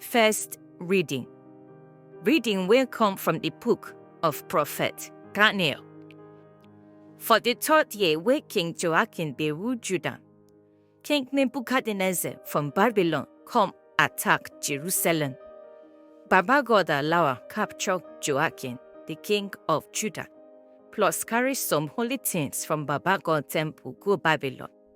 First reading. Reading will come from the book of prophet Daniel. For the third year where King Joachim be ruled Judah, King Nebuchadnezzar from Babylon come attack Jerusalem. Baba God allow capture Joachim, the king of Judah, plus carry some holy things from Baba God temple go Babylon.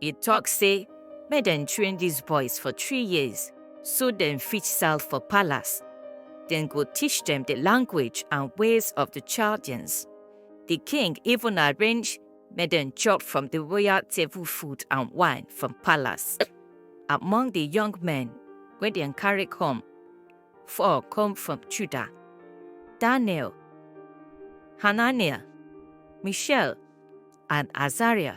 E tok say make dem train dis boys for three years so dem fit sell for palace. Dem go teach dem di language and ways of di Chaldeans. Di king even arrange make dem chop from di royal table food and wine from palace. Among di young men wey dem carry come, four come from Judah, Daniel, Hananiah, Mishael and Azariah.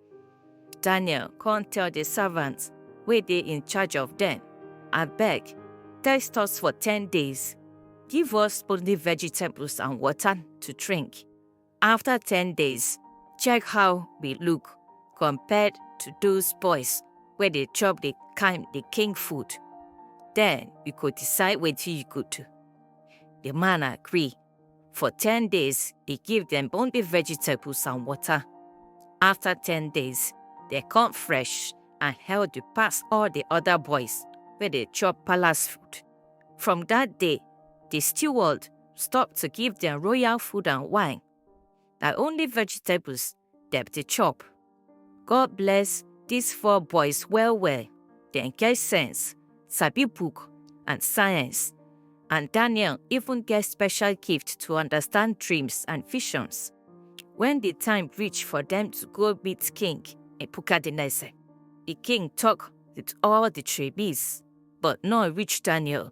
Daniel come tell the servants wey dey in charge of them, Abeg, test us for ten days. Give us only vegetables and water to drink. After ten days, check how we look compared to those boys wey dey chop the kind the king food. Then you go decide wetin you go do. The man agree For ten days, e give dem only vegetables and water. After ten days, dem come fresh and healthy pass all the other boys wey dey chop palace food. From that day, the steward stop to give dem royal food and wine. Na only vegetables dem dey chop. God bless these four boys well well. Dem get sense, sabi book and science. And Daniel even get special gift to understand dreams and visions. When the time reach for them to go meet King Nebuchadnezzar, the king talk with all the tribes, but no reach Daniel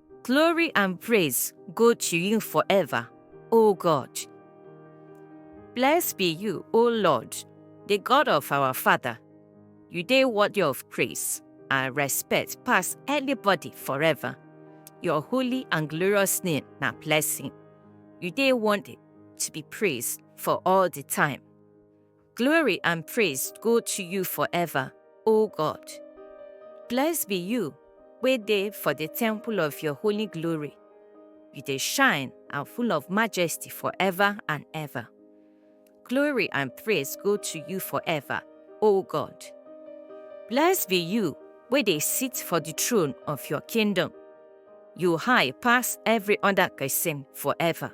Glory and praise go to you forever, O God. Blessed be you, O Lord, the God of our Father. You dey worthy of praise and respect pass anybody forever. Your holy and glorious name na blessing. You dey worthy to be praised for all the time. Glory and praise go to you forever, O God. Blessed be you, wey dey for the temple of your holy glory. You dey shine and full of majesty forever and ever. Glory and praise go to you forever, O God. Blessed be you, wey dey sit for the throne of your kingdom. You high pass every other person forever.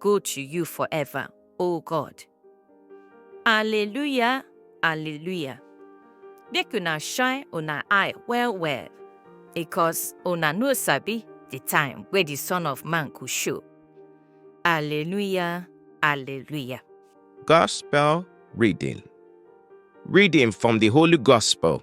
go to you forever, O God. Alleluia, Alleluia. Make una shine una eye well well, because una no sabi the time wey the Son of Man go show. Alleluia, Alleluia. Gospel reading. Reading from the Holy Gospel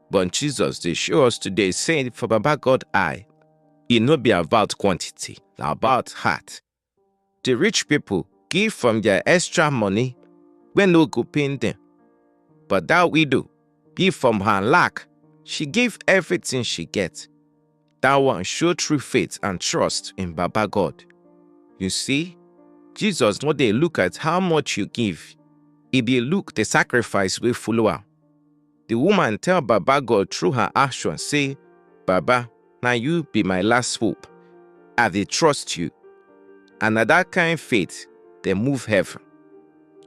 But Jesus dey show us today say for Baba God eye, e no be about quantity, na about heart. The rich people give from their extra money wey no go pain them. But that widow give from her lack, she give everything she get. That one show true faith and trust in Baba God. You see, Jesus no dey look at how much you give, e dey look the sacrifice wey follow am. The woman tell Baba God through her action say, Baba, na you be my last hope. I dey trust you. And na that kind faith dey move heaven.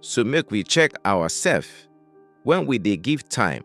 So make we check ourselves when we dey give time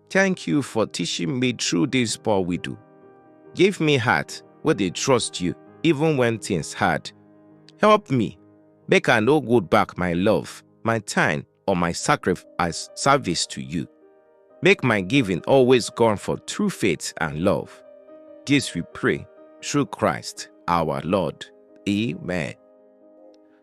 Thank you for teaching me through this poor widow. Give me heart where they trust you even when things hard. Help me, make I no good back my love, my time, or my sacrifice service to you. Make my giving always gone for true faith and love. This we pray through Christ our Lord. Amen.